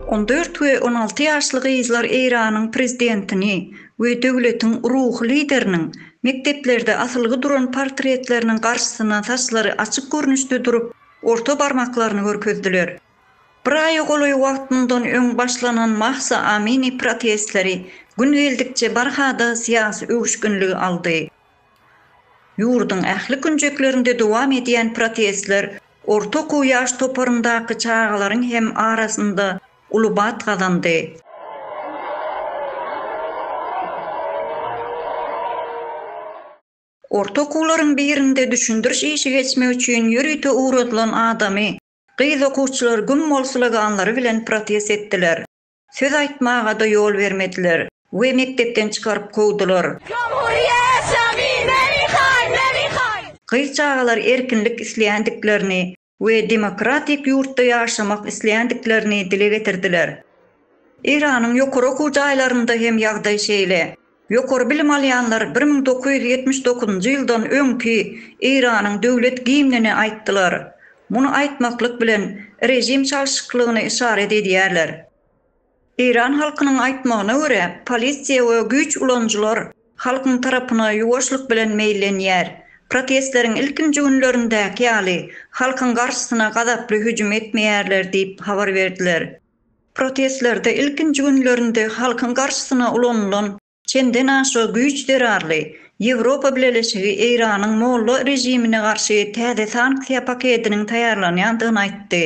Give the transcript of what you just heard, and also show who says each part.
Speaker 1: On dört we on alty ýaşly gyzlar Eýranyň prezidentini we döwletiň ruhy lideriniň mekdeplerde asylgy duran portretleriniň garşysyna saçlary açyk görnüşde durup, orta barmaklaryny görkezdiler. Bir aýa golaý wagt mundan öň başlanan Mahsa Amini protestleri gün geldikçe barha-da syýasy öwüşginligi aldy. Ýurduň ähli künjeklerinde dowam edýän protestler orta okuw ýaş toparyndaky çagalaryň hem arasynda uly bat gazandy. Orta okuwlaryň birinde düşündiriş işi geçmek üçin ýörite ugradylan adamy gyz okuwçylar güm bolsulaganlary bilen protest etdiler. Söz aýtmaga-da ýol bermediler we mekdepden çykaryp kowdular. Jomhurýet şamy, Mary-haý, Mary-haý! Gyz-çagalar erkinlik isleýändiklerini we demokratik ýurtda ýaşamak isleýändiklerini dile getirdiler. Eýranyň ýokary okuw jaýlarynda hem ýagdaý şeýle. Ýokary bilim alýanlar bir müň dokuz ýüz ýetmiş dokuzynjy ýyldan öňki Eýranyň döwlet gimnini aýtdylar. Muny aýtmaklyk bilen režim çalşyklygyny yşarat edýärler. Eýran halkynyň aýtmagyna görä, polisiýa we güýç ulanyjylar halkyň tarapyna ýuwaşlyk bilen meýillenýär. Protestleriň ilkinji günlerindäki ýaly halkyň garşysyna gazaply hüjüm etmeýärler diýip habar berdiler. Protestlerde ilkinji günlerinde halkyň garşysyna ulanylan çenden aşa güýç zerarly Ýewropa Bileleşigi Eýranyň molla režimine garşy täze sanksiýa paketiniň taýýarlanýandygyny aýtdy.